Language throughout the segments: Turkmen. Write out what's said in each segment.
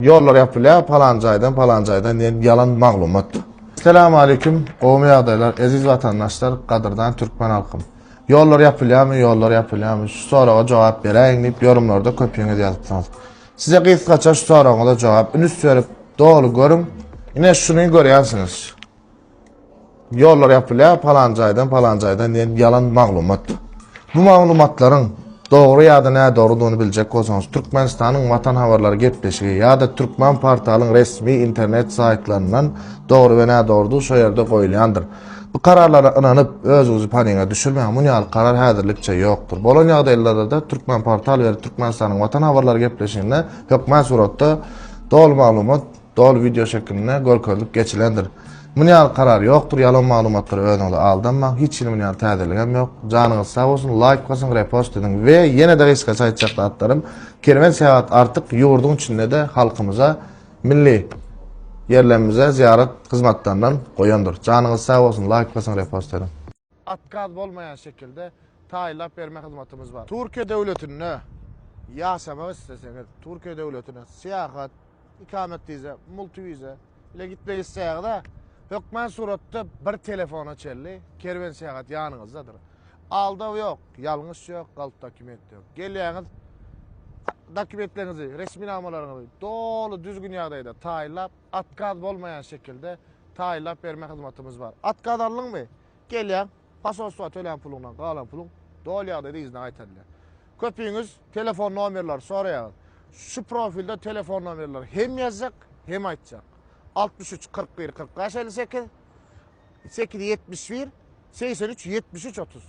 Ýollar ýapylýar palan jaýdan palan jaýdan diýen ýalan maglumat. Salam aleyküm gowmy ýagdaýlar eziz watandaşlar gadyrdan türkmen halkym ýollar ýapylýamy ýollar ýapylýamy şu soraga jogap beräýiň diýip ýorumlarda köpüňiz ýazypsyňyz size gysgaça şu soragyňyza jogap ünüs berip doly görüň ine şuny görýänsiňiz Ýollar ýapylýar, palan jaýdan, palan jaýdan diýen ýalan maglumat. Bu maglumatlaryň dogry ýa-da nädogrudygyny biljek bolsaňyz, Türkmenistanyň Watan habarlary gepleşigi ýa-da Türkmen portalyň resmi internet saýtlaryndan dogry we nädogrudygy şo ýerde goýulýandyr. Bu kararlara ynanyp, özüňizi paniga düşürmäň, muny ýaly karar häzirlikçe ýokdur. Bolan ýagdaýlarda-da Türkmenportal we Türkmenistanyň Watan habarlary gepleşiginde hökmän suratda doly maglumat Doly wideo şekilinde görkezilip geçilendir. Muny ýaly karar ýokdur ýalan maglumatlara özüňizi aldanmaň hiç hili muny ýaly täzeligem ýok. Janyňyz sag bolsun laýk basyň repost ediň we ýene de gysgaça aýtjak zatlarym kerwen seýahat artyk ýurduň içinde de halkymyza milli ýerlerimize zyýarat hyzmatlaryndan goýandyr. Janyňyz sag bolsun laýk basyň repost ediň. Atkaz bolmaýan şekilde taýynlap berme hyzmatymyz bar. Türkiýe döwletinde ýaşamak isleseňiz, Türkiýe döwletine syýahat, ikamet wiza, multi wiza bilen gitmek isleýäňiz-ä, hökmän suratda bir telefona çenli Kerwensyýahat ýanyňyzdadyr. Aldaw ýok, ýalňyş ýok, galp dokument ýok. Gelýäňiz, dokumentleriňizi, resminamalaryňyzy doly düzgün ýagdaýda taýynlap, At gaz bolmaýan şekilde taýynlap berme hyzmatymyz bar. At gaz aldyňmy? Gelýäň, posolstwa tölän puluňdan galan puluň doly ýagdaýda yzyna gaýtarylýar. Köpüňiz telefon nomerleri soraýaňyz. Şu profilde telefon nomerleri hem ýazjak, hem aýtjak. Altmyş üç, kyrk bir, kyrk bäş, elli sekiz. sekiz ýetmiş bir segsen üç ýetmiş üç otuz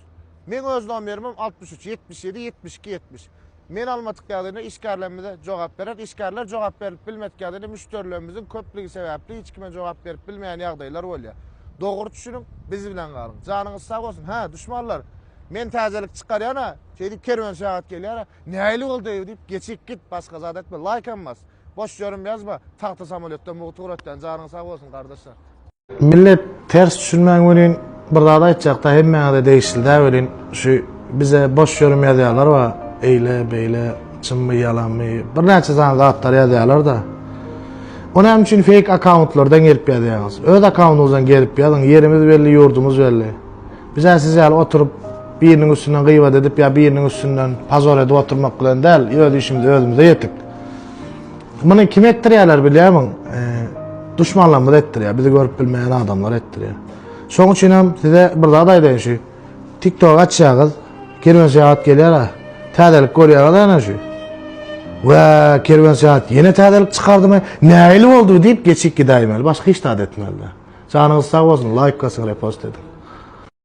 Meň öz nomerimem altmyş üç ýetmiş ýedi ýetmiş iki ýetmiş Men almadyk ýagdaýynda işgärlerimize jogap berer. Işgärler jogap berlip bilmedik ýagdaýynda müşderilerimiziň köplügi sebäpli hiç kime jogap berip bilmeýän ýagdaýlar bolýar. Dogry düşüniň, biz bilen galyň. Janyňyz sag bolsun. Hä, duşmanlar, men täzelik çykarýan-a, şeýdip kerwen-şagat gelýär-a, nähili boldy-eý bu diýip, geçip git, başga zat etme, laýkam bas. Boş ýörüm ýazma. Tagta samoletden mugt ugrat dän. Janyň sag bolsun gardaşlar. Millet ters düşünmän welin bir zat aýtjakda hemmäňize degişlidä welin şu bize boş ýörüm ýazýarlar wa eýle beýle çynmy ýalanmy birnäçe sany zatlar ýazýarlarda o näme üçin fake akkauntlardan gelip ýazýaňyz öz akkaunyňyzdan gelip ýazyň ýerimiz belli ýurdumyz belli bizä siz ýaly oturyp biriniň üstünden gyýbat edip ýa biriniň üstünden pazor edip oturmak bilen däl öz işimize özümize ýetik. Muny kim etdirýärler bilýärmiň? E, duşmanlarymyz etdirýär. Bizi görüp bilmeýän adamlar etdirýär. Şoň üçin hem size bir zat aýdaýyn şu. TikTok açýaňyz, kerwen seýat gelýär. Täzelik görýäňiz ana şu. Wä, kerwen seýat ýene täzelik çykardymy? Nähili boldy diýip geçip gidäýmeli. Başga hiç zat etmeli. Janyňyz sag bolsun. Laýk gasyň, repost ediň.